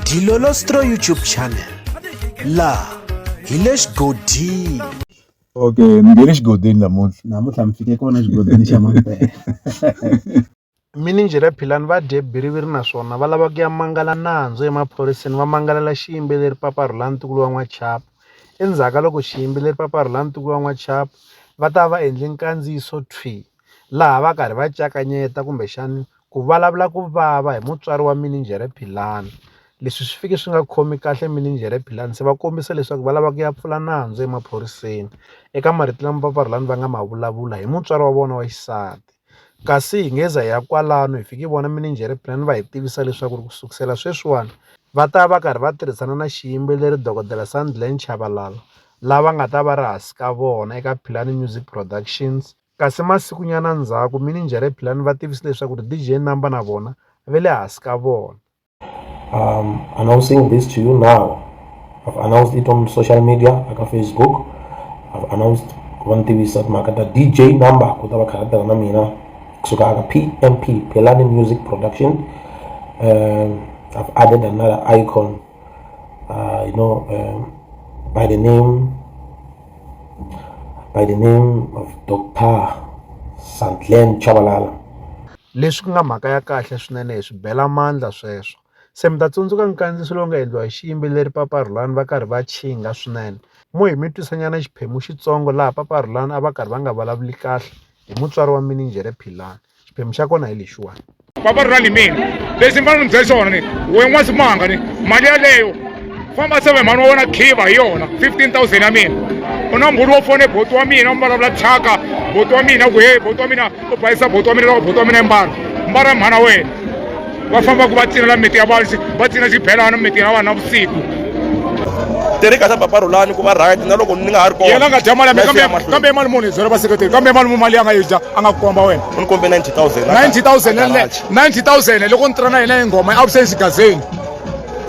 Dilolostro YouTube channel laha hi le xigodini okay mi nge le xigodini namuntlha namuntlha mi fike kona xigodini xa mampela mininjhere philani va dye biriviri naswona va lava ku ya mangala nandzu emaphoriseni va mangalela xiyimbeleri papa rhulani ntukulu wa n'wachapo endzhaku ka loko xiyimbeleri papa rhulani ntukulu wa n'wachapo va ta va endle nkandziyiso thwi laha va karhi va cakanyeta kumbexani Ku vulavula ku vava hi mutswari wa minijhere Philani. Leswi swi fike swi nga khomi kahle minijhere Philani, se va kombisa leswaku va lava ku ya pfula nandzu emaphoriseni eka marito lama papa Rhulani va nga ma vulavula hi mutswari wa vona wa xisati. Kasi hi ngeza hi ya kwalano hi fike hi vona minijhere Philani va hi tivisa leswaku ku sukela sweswiwani va ta va karhi va tirhisana na xiyimbeleri dokodela Sandile Chabalala, lava nga ta va ri hansi ka vona eka Philani Music Productions. Kasi masikunyana ndzhaku, minijhere Philani va tivise leswaku ri DJ Namba na vona ve le hasi ka vona. Um, announcing this to you now. I've announced it on social media, aka Facebook. I've announced ku va ni tivisa timhaka ta DJ Namba ku ta va kha tirha na mina kusuka aka PMP, Philani Music Production. Um, I've added another icon uh, you know, um, by the name by the name of Dr. Santlen Chabalala. Leswi ku nga mhaka ya kahle swinene hi swi bela mandla sweswo. Se mi ta tsundzuka nkandziso lowu nga endliwa hi xiyimbeleri Papa Rhulani va karhi va chinga swinene. Mo hi mi twisanyana xiphemu xitsongo laha Papa Rhulani a va karhi va nga vulavuli kahle hi mutswari wa mininjhere Philani. xiphemu xa kona hi lexiwani papa ri ra ni mina lexi ni fanele ni byela xona ni we n'wasimanga ni mali yaleyo famba seve mhani wa wena khiva hi yona 15000 ya mina u na mbhulu wo fone boti wa mina u mbalavula thyaka boti wa mina ku he boti wa mina u bayisa boti wa mina loko boti wa mina i mbala mbala mhana wena va fambaka va cinela miti ya vanhu va cina xibelana miti ya vanhu navusiku tereka sa baba rulani ku va right na loko ni nga ha ri kona yena nga dya mali kambe kambe mali muni zero va seketeri kambe mali muni mali ya nga yi dya a nga ku komba wena u ni kombe 90000 90000 90000 loko ni tirha na yena yi nghoma i absence gazeni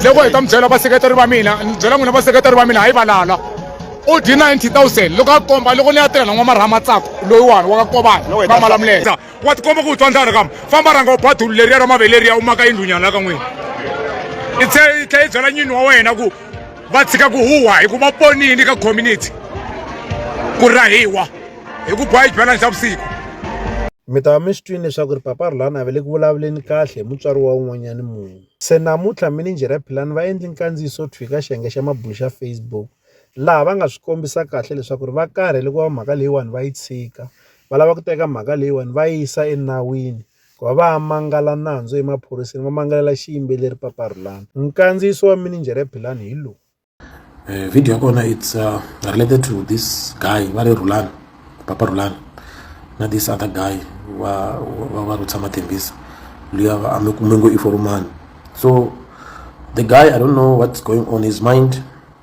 loko hi ta mi byela vaseketeri va mina ni byela n'wina vaseketeri va mina hayi valala u dyi 90000 loko a komba loko ni ya tirha na n'wamaraha matsako loyiwani wa ka kobani va malamuleta wa tikomba ku u twa ndlala kama famba rhanga u ba dulu leriya ra maveleriya u maka yindlunyana la ka n'wina i tlhe i tlhe i byela nyini wa wena ku va tshika ku huwa hi ku va ponini ka community ku rahiwa hi ku boya xibelani xa vusiku mi ta va mi swi twini leswaku ri papa rulani a ve le ku vulavuleni kahle hi mutswari wa un'wanyani munhu se namuntlha minijere ya philani va endli nkandziyiso thwi ka xiyenge xa mabulu xa facebook laha va nga swi kombisa kahle leswaku ri va karhele ku va mhaka leyiwani va yi tshika va lava ku teka mhaka leyiwani va yisa enawini ku va va ya mangala nandzu emaphoriseni va mangalela xiyimbeleri paparhulani nkandziyiso wa mininjhere ya philani hi lowu eh, video ya kona its uh, related to this guy va ri rhulani papa rhulani na this other guy wa va va ri tshama thembisa luya a mi kume ngo i forumani so the guy i don't know what's going on his mind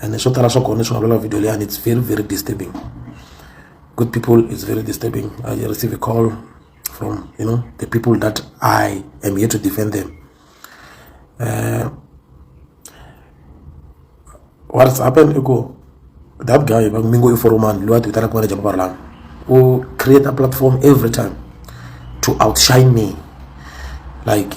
and swo tala swa kona swi nga lula video leyani it's very very disturbing good people it's very disturbing i receive a call from you know the people that i am here to defend them uh, what's happened ago that guy va mingo i foromani loyi a ti vitanaka manager mavarlana u create a platform every time to outshine me like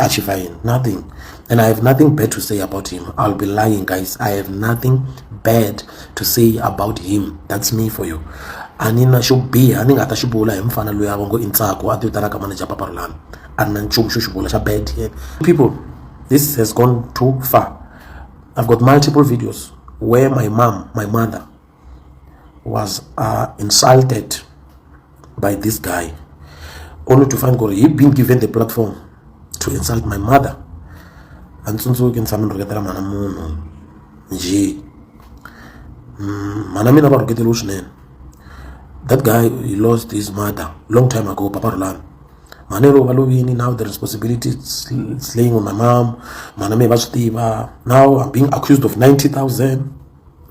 Achieving nothing. And I have nothing bad to say about him. I'll be lying, guys. I have nothing bad to say about him. That's me for you. a ni na xo biha ni nga ta xi vula hi mufana loyi a va ngo i ntsako a ti vitanaka manager papa rolami a ni na nchumu xo xi vula xa bad yeah. people this has gone too far i've got multiple videos where my mom my mother was uh, insulted by this guy only to find he been given the platform to insult my mother a ni tsundzuki ni tshame ni rhuketela mhana munhu njhe mm, mhana mina va rhuketeliwe swinene that guy he lost his mother long time ago papa rulani mhana yero va lovini now the responsibility slaying on my mom mhana me va swi tiva now i'm being accused of 90000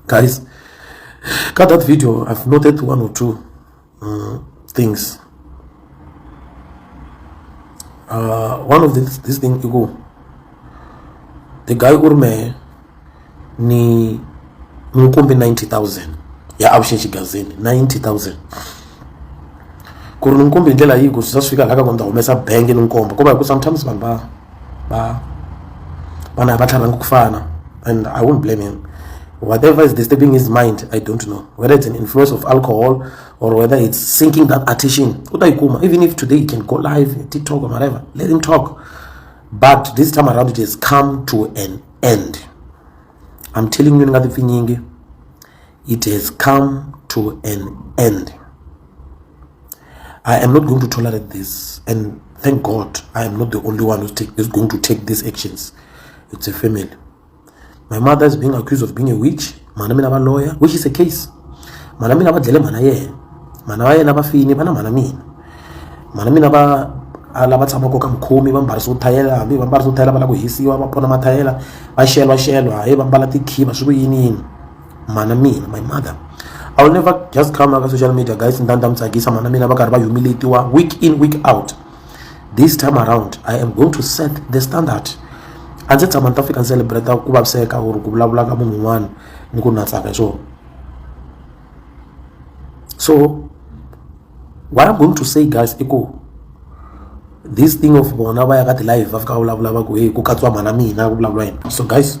Guys, cut that video. I've noted one or two uh, things. Uh, one of this, this thing you go. The guy urme ni mukombe 90000 ya option chigazini 90000 ku ri ni nkumbi hi ndlela yihi ku swi ta swi fika laha ka ku ni ta humesa bangi ni nkombo kuva hi ku sometimes vanhu va ba bana ha va tlharhangi ku fana and i won't blame him whatever is disturbing his mind i don't know whether it's an influence of alcohol or whether it's sinking that attention u ta yi kuma even if today you can go live tiktok or whatever let him talk but this time around it has come to an end i'm telling you ni nga tipfinyingi it has come to an end I am not going to tolerate this. And thank God, I am not the only one who's take, is going to take these actions. It's a family. My mother is being accused of being a witch. Mana mina ba lawyer, which is a case. Mana mina ba dlele mana ye. Mana wa yena ba fini bana mana mina. Mana mina ba ala ba tshama ko ka mkhomi ba mbarisa ku thayela hambi ba mbarisa ku thayela va lava ku hisiwa va pona mathayela va xelwa xelwa hayi va mbala tikhiva swi ku yiniyini mana mina my mother i will never just come aka social media guys ndani ta mi tsakisa mana mina va karhi va humiletiwa week in week out this time around i am going to set the standard a ndzi tshama ni ta fika ni celebrata ku vaviseka or ku vulavula ka munhu un'wana ni ku na tsaka hi swona so what i'm going to say guys i ku this thing of bona va ya ka ti-live va fika va vulavula va ku heyi ku katsiwa mhana mina ku vulavula yena so guys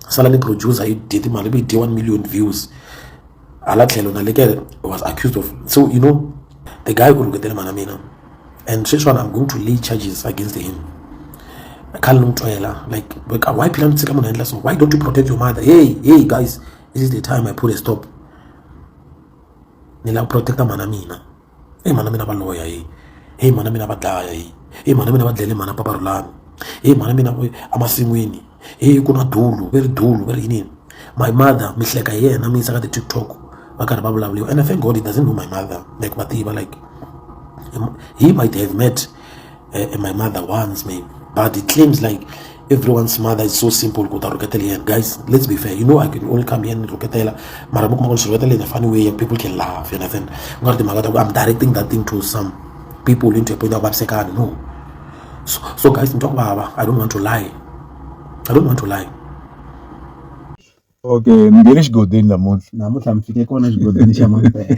sala ni producer yi dye timali ku yi dye one million views hala tlhelo na leke was accused of so you know the guy ku rhuketele mhana mina and sweswiwani i'm going to lay charges against him khale ni n'wi twela like why phila ni tshika munhu endla so why don't you protect your mother hey hey guys this is the time i put a stop ni lava ku protecta mhana mina Heyi mhana mina va lovoya heyi, heyi mhana mina va dlaya heyi, heyi mhana mina va dlayele mhana papa Rhulani, heyi mhana mina emasin'wini heyi ku na dulu va ri dulu va ri yiniyini. My mother mi hleka hi yena mi yisa ka ti-TikTok va karhi va vulavuriwa and I thank God he doesn't know my mother like va tiva like hi might have met. eh, eh, my mother wants me but it claims like everyone's mother is so simple kuta ruketela yena guys let's be fair you know i can only come here and ruketela mara mi kuma ku ruketela in a funny way people can laugh you understand u nga ri timhaka ta ku i'm directing that thing to some people into a point ya ku vavisekana no so, so guys ni twa ku vava i don't want to lie i don't want to lie okay ni nge le xigodini namuntlha namuntlha mi fike kona xigodini xa mampela